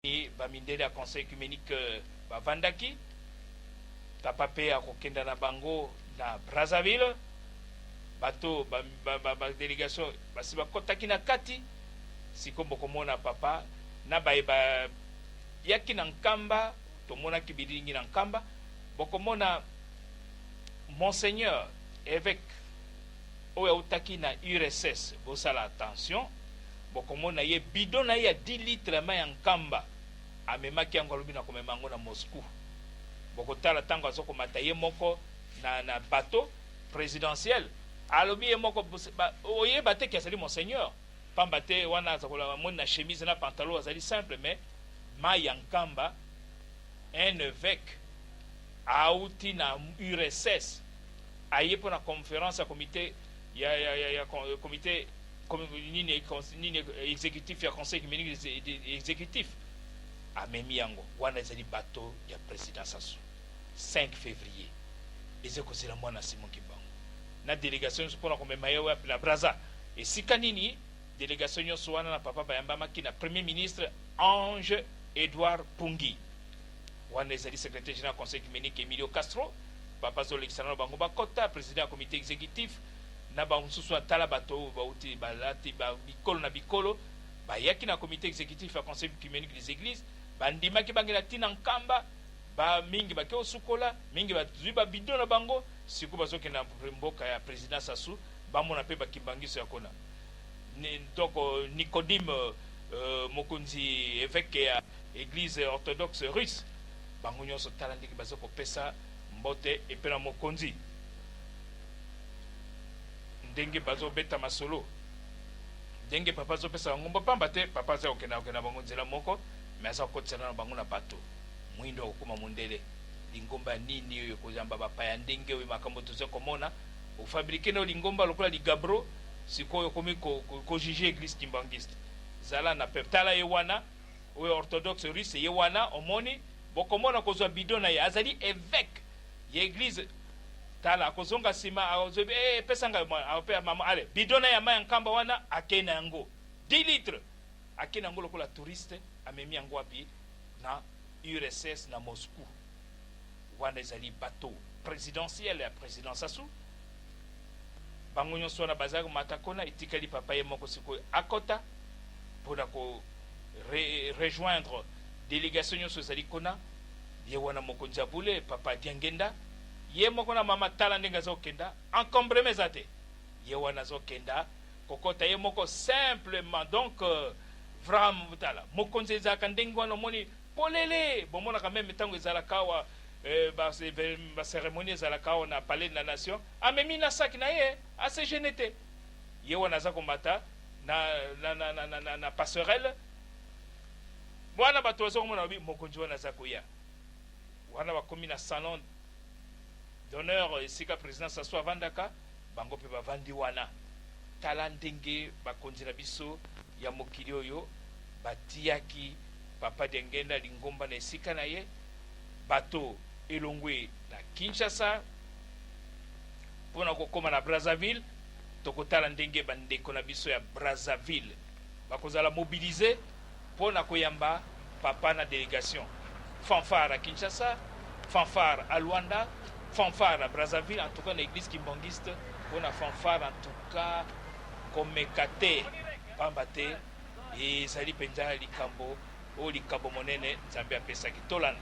Mpe bamindele ya Conseil oecumenique bavandaki, Papa mpe akokenda na bango na Brazzaville. Bato ba, ba, ba, ba delegation basi bakotaki na kati. Siko bokomona Papa na baye bayaki na Nkamba, tomonaki bililingi na Nkamba, bokomona Monseigneur eveque oyo autaki na URSS, bosala attention, Bokomona ye, bidon na ye ya dix litres ya mai ya nkamba, amemaki yango, alobi, Nakomema yango na Moscou. Bokotala ntango azokomata ye moko na, na bateau presidentiel. Alobi ye moko, Ba, oyeba te que azali Monseigneur? Mpamba te, wana azakola, amoni na chemise na pantalon, azali simple, mais mai ya nkamba, un eveque auti na URSS, aye mpo na conference ya Comite ya, ya, ya, ya Comite nini nini executif ya conseil ecumenik executif amemi yango wana ezali bato ya president sasu 5 fevrier eze kozela mwana simon kimbangu na delegation nyonso mpona komema ye wapi na braza esika nini delegation nyonso wana na papa bayambamaki na premier ministre ange edouard pungi Wana ezali Secretaire general ya Conseil Ecumenique Emilio Castro, Papa azo lekisa nano bango ba kota, President ya Comite Executif na ba mosusu wana. Tala bato oyo bawuti, balati ba bikolo na bikolo, bayaki na Comite Executif ya Conseil Ecumenique des Eglises, ba ndimaki ba ngenda ti na Nkamba, ba mingi ba ke kosukola, mingi ba zui ba bidon na bango, sikoyo bazo kende na mboka ya President Sassou, ba mona pe ba Kimbanguisto ya kuna. Donc Nicodime, mokonzi, eveque ya. Eglise orthodoxe russe bango nionso tala ndenge baza kopesa mbote epe na mokonzi ndenge bazo beta masolo ndenge papa azo pesa bango mbo pamba te papa aza kokenda kokenda bango nzela moko mais aza kokotisana na bango na bato muindu akokoma mundele lingomba ya nini oyo ekoyamba bapaya ndenge oyo makambo toza komona ofabrike nao lingomba lokola ligabro sikoyo okomi ko, ko, ko juge eglise kimbanguiste zala na peuple tala ye wana Oyo orthodoxe russe ye wana omoni bokomona kozua bidon naye azali eveque ya eglise tala akozonga sima azwebi ee eh, pesa ngayo mwana ape ya mama ale bidon naye ya mayi ya nkamba wana akei na yango 10 litre akei na yango lokola touriste amemi yango wapi na URSS na Moscou wana ezali bateau presidentiel ya president Sassou bango nionso wana baza komata kuna etikali papa ye moko sikoyo akota pona ko re, rejoindre delegation nionso ezali kuna ye wana mokonzi ya bule papa Diangenda ye moko na mama tala ndenge azo kenda encombrement eza te ye wana azo kenda Kokota ye moko simplement donc vram tala mokonzi ezalaka ndenge wana omoni polele bomonaka meme tango ezalaka awa ba ba ceremonie ezalaka awa na palais de la nation amemi na sac na ye a se gene te ye wana aza komata na na na na na na passerelle wana bato baza komona babi mokonzi wana aza koya Wana bakomi na salon d'honneur esika President Sassou avandaka, bango mpe bavandi wana. Tala ndenge bakonzi na biso ya mokili oyo batiyaki Papa Diangenda lingomba na esika na ye, bato elongwe na Kinshasa mpo na kokoma na Brazzaville. Tokotala ndenge bandeko na biso ya Brazzaville bakozala mobiliser Mpo na koyamba Papa na delegation. Fanfare à Kinshasa, fanfare à Luanda, fanfare à Brazzaville, en tout cas na eglise kimbangiste mpo na fanfare en tout cas komeka te pamba te ezali mpenza likambo oyo likabo monene Nzambe apesaki. Tolanda.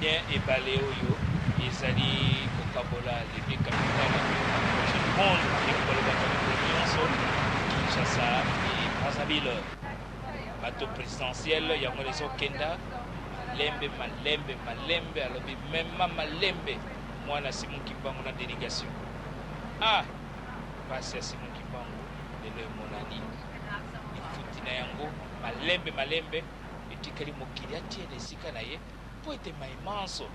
Bien ebale oyo ezali kokabola les deux capitales ya projet du monde ekoki kolobaka mikolo nyonso Kinshasa et Brazzaville bato présidentielle yango wana ezokenda malembe malembe malembe alobi mema malembe mwana Simon Kimbangu na délégation ah pasi ya Simon Kimbangu lelo emonani lifuti na yango malembe malembe Etikali mokili atie na esika na ye mpo ete maye manso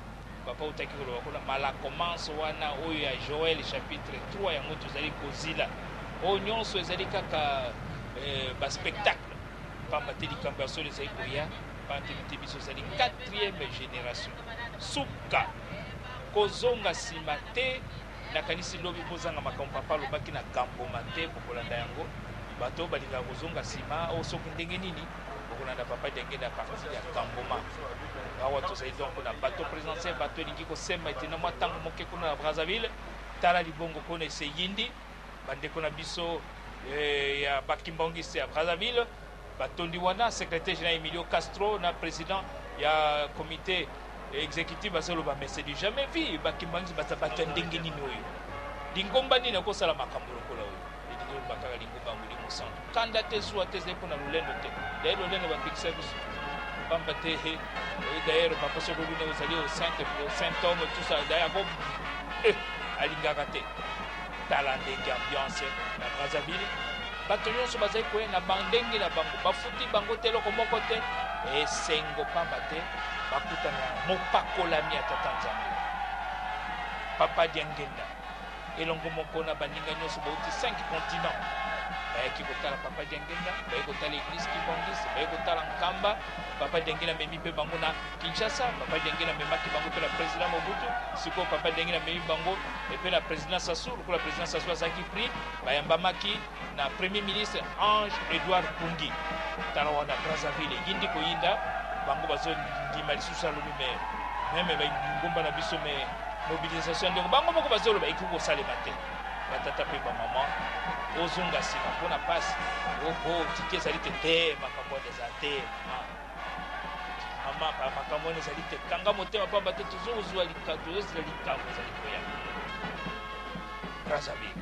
papa autaki koloba kuna, malako manso wana oyo ya Joel chapitre 3 yango tozali kozila. Oyo nyonso ezali kaka eh, ba spectacle pamba te likambo ya solo ezali koya pamba te mite biso ezali quatrième génération suka kozonga nsima te nakanisi lobi bozanga makambo papa alobaki na gamboma te bokolanda yango bato oyo balingaka kozonga nsima oyo oh, soki ndenge nini bokolanda papa diangenda ya parti ya kangoma awa tozali donc na bato présidentiel bato elingi kosemba ete na mwa ntango moke kuna na brazzaville tala libongo kuna eseyindi bandeko na biso eh, ya bakimbangiste ya brazzaville batondi wana secrétaire général emilio castro na président ya comité exécutif bazoloba mais c'est du jamais vu bakimbangiste baza bato ya ndenge nini oyo lingomba nini akosala makambo lokola oyo Elingi koloba kaka lingomba ya Molimo Santu. Kanda te, zuwa te, ezali mpo na lolendo te. D'ailleurs, lolendo bapekisa biso. Pamba te, he, eh, d'ailleurs, papa soko luna ozali au saint, au saint homme, tout ça, d'ailleurs, ako, eh, alingaka te. Tala ndenge ambiance na Brazzaville. Bato nyonso bazali koya na bandenge na bango, bafuti bango te eloko moko te. Esengo pamba te bakutana na mopakolami ya Tata Nzambe, Papa Diangenda. elongo moko na baninga nyonso bauti 5 continent bayaki kotala papa diangenga baye kotala eglise kibongis baye kotala nkamba papa diangela amemi mpe bango na kinshasa papa diangela amemaki bango mpe na président mobutu sikoyo papa diangela amemi bango mpe na président sasu lokola président sasu azalaki prix bayambamaki na Premier ministre Ange Edouard Pungi tala wana Brazzaville eyindi koyinda bango bazo ndima lisusu salulu me meme bangomba na biso me mobilisation ndeko bango moko bazoloba ekoki kosalema te batata mpe bamama ozonga nsima mpo na mpasi oho tiki ezali te te makambo wana eza te mama makambo wana ezali te kanga motema mpamba te tozozwa likambo tozozela likambo ezali koya brazzaville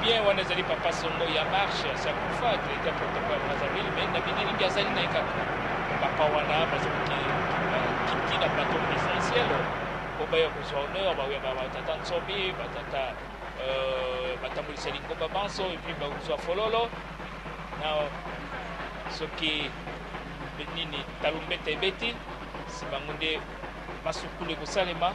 bien wana ezali papa songo ya marche sa kufa directeur protocole brazzaville mais na bilingi azali na ye kaka papa wana bazoki kiti na plateau présidentiel po baya kozwa honneur bawya batata nsomi batata euh, batambolisa lingomba banso epuis bakozwa fololo na soki nini talumbeta ebeti si bango nde masukulu ekosalema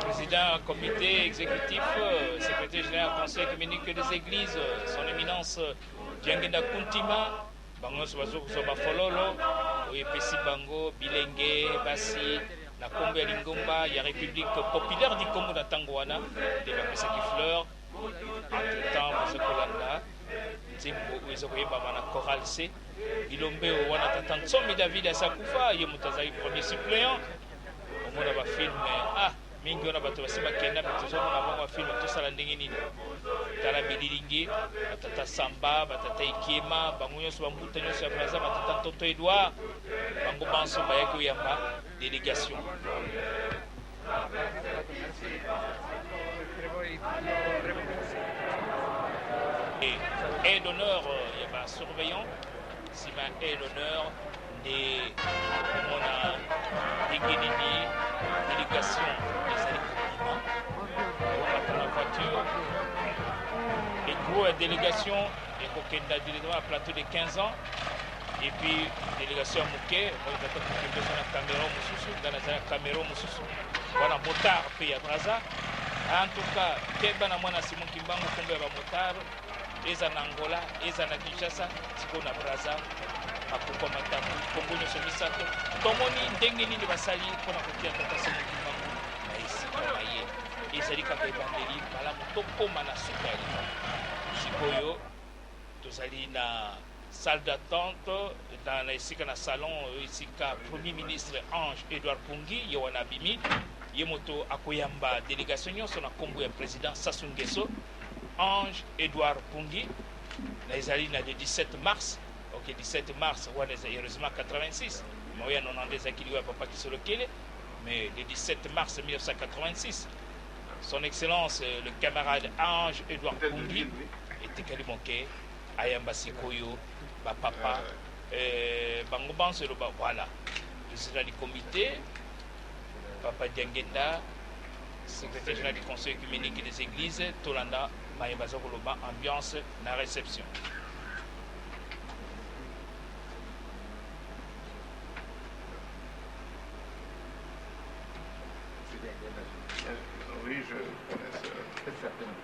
président comité exécutif, euh, secrétaire général conseil communique des églises, euh, son éminence euh, Diangenda Kuntima, bango nyonso bazo kozwa bafololo oyo epesi bango bilenge basi na nkombo ya lingomba ya république populaire du congo na ntango wana nde bapesaki fleur Entre temps boza kolanda nzembo oyo eza koyembama na chorale se bilombeo wana tata nsomi david asi akufa ye moto azalaki premier suppléant omona bafilme ah mingi wana bato basi bakenda me tozomona bango bafilme tosala ndenge nini tala bililingi batata samba batata ekiema bango nyonso bambuta nyonso ya braza batata ntoto edouard bango banso bayaki oyamba délégation Et d'honneur ya ba surveillant nsima et l'honneur nde komona ndenge nini délégation ezali kobima komata na voiture ekro ya délégation ekokenda directement na plateau de 15 ans Et puis délégation ya moke oyo tata kokende eza na camero mosusu ngai naza na camero mosusu wana motard mpe ya braza en tout cas keba na mwana simon kimbangu nkombo ya bamotard eza na angola eza na kinshasa sikoyo na braza makuko matambo nkombo nyonso misato tomoni ndenge nini basali mpo na kotia tata simon kimbangu na esika na ye ezali kaka ebandeli malamu tokóma na suka ya likambo sikoyo tozali na salle d'attente na na esika na salon oyo esika premier ministre Ange Edouard Pungi ye wana abimi ye moto akoyamba delegation nyonso na nkombo ya president Sassou Nguesso Ange Edouard Pungi na ezali na le 17 mars ok 17 mars wana eza heureusement 86 mais oyo ya 90 ezalaki liwa ya papa Kisolokele mais le 17 mars 1986 son excellence le camarade Ange Edouard Pungi etikali moke Ayamba sikoyo ba papa eh, bango banso eloba voilà président du comité papa Diangenda secrétaire général du conseil communique des églises tolanda maye baza koloba ambiance na réception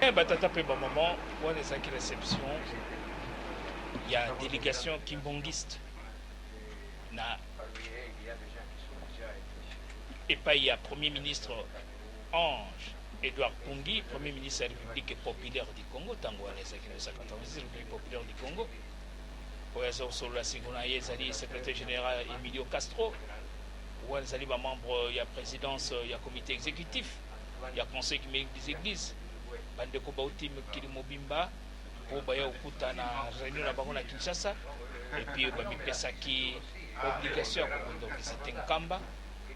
Eh ba tata pe ba maman wana ezalaki reception ya delegation kimbongiste na epai ya premier ministre Ange Edouard Kungi, premier ministre ya République populaire du Congo, tango wana ezalaki na 1986 République populaire du Congo. Oyo aza kosolola siko na ye ezali secrétaire général Emilio Castro, wana ezali ba membre ya présidence ya comité exécutif. ya Conseil ecumenique des Eglises, ba ndeko bawuti mokili mobimba po baya kokuta na reunion na bango na Kinshasa et puis ba mipesaki obligation ya kokende visiter Nkamba,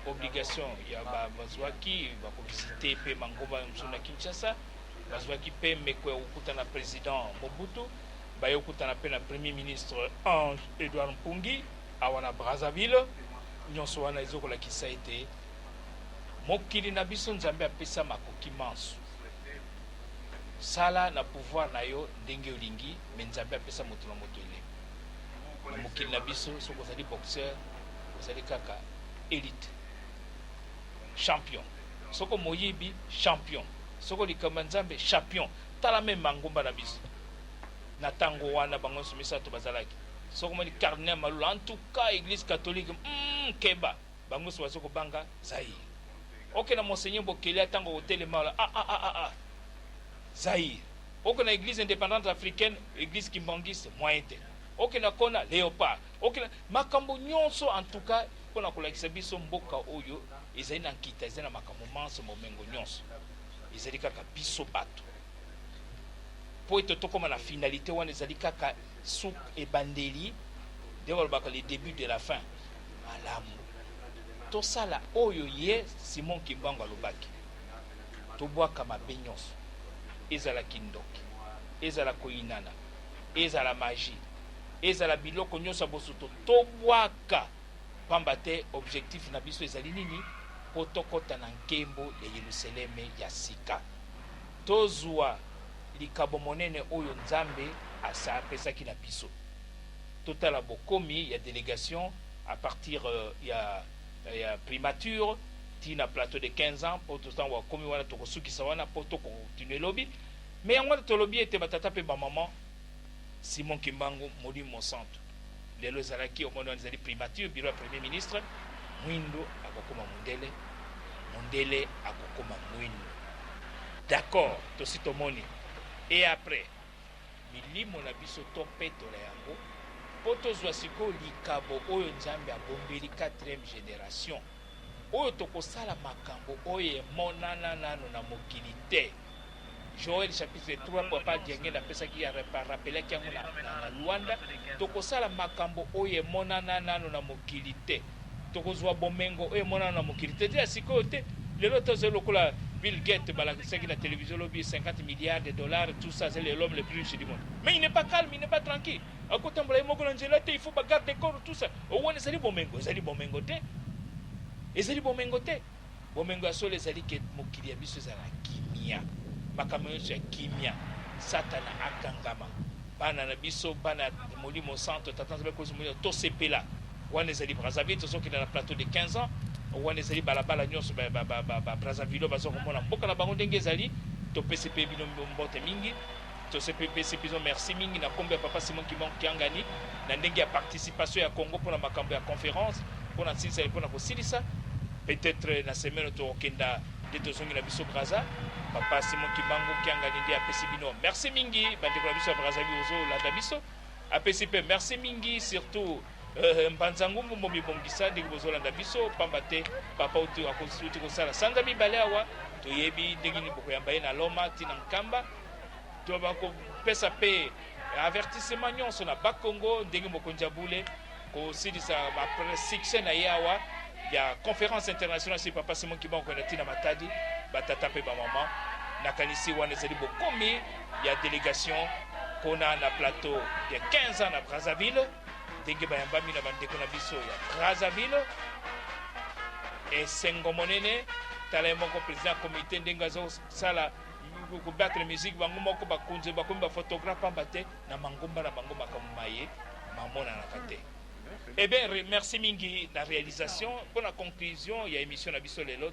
obligation ya ba bazuaki ba ko visiter pe mangomba mosusu na Kinshasa, bazuaki pe meko ya kokuta na President Mobutu, baye kokutana pe na Premier Ministre Ange Edouard Mpungi awa na Brazzaville, nionso wana ezo kolakisa ete Mokili na biso nzambe apesa makoki manso sala na pouvoir na yo ndenge olingi mais nzambe apesa moto na moto eleko na mokili na biso soki ozali boxeur ozali kaka elite champion soko moyibi champion soko likambo ya nzambe champion tala meme mangomba na biso na tango wana bango nyonso misato bazalaki soko moni cardinal malula en tout cas église catholique mm, keba Bango nioso bazo ko banga Zaïre ok na monseigneur bokelia tango ako telema ah ah ah ah ah Zaïre ok na eglise independante africaine eglise kimbanguiste moyen te ok na kona leopard ok na makambo nionso en tout cas pona ko lakisa biso mboka oyo ezali na nkita ezali na makambo manso bomengo nionso ezali kaka biso batu po ete tokoma na finalite wana ezali kaka Suk ebandeli nde balobaka le debut de la fin. Malamu, tosala oyo ye Simon Kimbangu alobaki, tobwaka mabe nyonso, ezala kindoki, ezala koyinana, ezala magie, ezala biloko nyonso ya bosoto, tobwaka, pamba te objectif na biso ezali nini? Mpo tokota na nkembo ya Yeluseleme ya sika. Tozua likabo monene oyo Nzambe asapesaki na biso. Totala bokomi ya delegation a partir ya ya primature ti na plateau de 15 ans po to tango akomi wana tokosukisa wana po to continuer lobi mais yango wana tolobi ete ba tata pe ba maman Simon Kimbangu molimo mosantu lelo ezalaki omoni wana ezali primature bureau ya premier ministre muindu akokoma mundele mundele akokoma muindu d'accord tosi tomoni et après milimo na biso topetola yango mpo tozwa sikoyo likabo oyo nzambe abombeli 4e generation oyo tokosala makambo oyo emonana nano na mokili te Joel chapitre 3 papa Diangenda apesaki a rappelaki yango na na Luanda tokosala makambo oyo emonana nanu na mokili te tokozua bomengo oyo emonana nanu na mokili te te ya sikoyo te lelo tozali lokola Bill Gates balakisaki na television lobi 50 milliards de dollars tout ça azali l'homme le plus riche du monde mais il n'est pas calme il n'est pas tranquille akotambola ye moko na nzela te il faut ba garde corps tout ça wana ezali bomengo ezali bomengo te ezali bomengo te Bomengo ya solo ezali ke mokili ya biso ezala na kimia, makambo nionso ya kimia, satana akangama, bana na biso, bana ya molimo santo, tata nzambe akolisa molimo, tosepela, wana ezali Brazzaville, tozokende na plateau de 15 ans, wana ezali balabala nionso, ba, ba, ba, ba, ba Brazzavillois baza komona mboka na bango ndenge ezali, topesi pe bino mbote mingi. Tosi pepesi bino merci mingi na kombo ya Papa Simon Kimbangu Kiangani na ndenge ya participation ya Congo pona makambo ya conference pona nsilisali pona kosilisa peut etre na semaine oyo tokokenda nde tozongi na biso Brazza. Papa Simon Kimbangu Kiangani nde apesi bino merci mingi bandeko na biso ya Brazzaville ozolanda biso apesi pe merci mingi surtout euh, mbanza ngumbu momibongisa ndenge bozolanda biso pamba te papa uti akosuti kosala sanza mibale awa toyebi ndenge nini bokoyamba ye na loma ntina nkamba To bako pesa pe avertissement nyonso na ba Congo ndenge mokonzi ya bule ko silisa ba succès na ye awa ya conférence internationale si papa Simon Kimbangu ko na tina Matadi ba tata pe ba maman nakanisi wana ezali bokomi ya delegation kuna na plateau ya 15 ans na Brazzaville ndenge bayambami na bandeko na biso ya Brazzaville esengo monene tala ye moko president ya komite ndenge azosala ko battre musique bango moko ba konze ba komi ba photographe pamba te na mangomba na bango makambo maye mamonanaka te eh bien merci mingi na realisation pona conclusion ya emission na biso lelo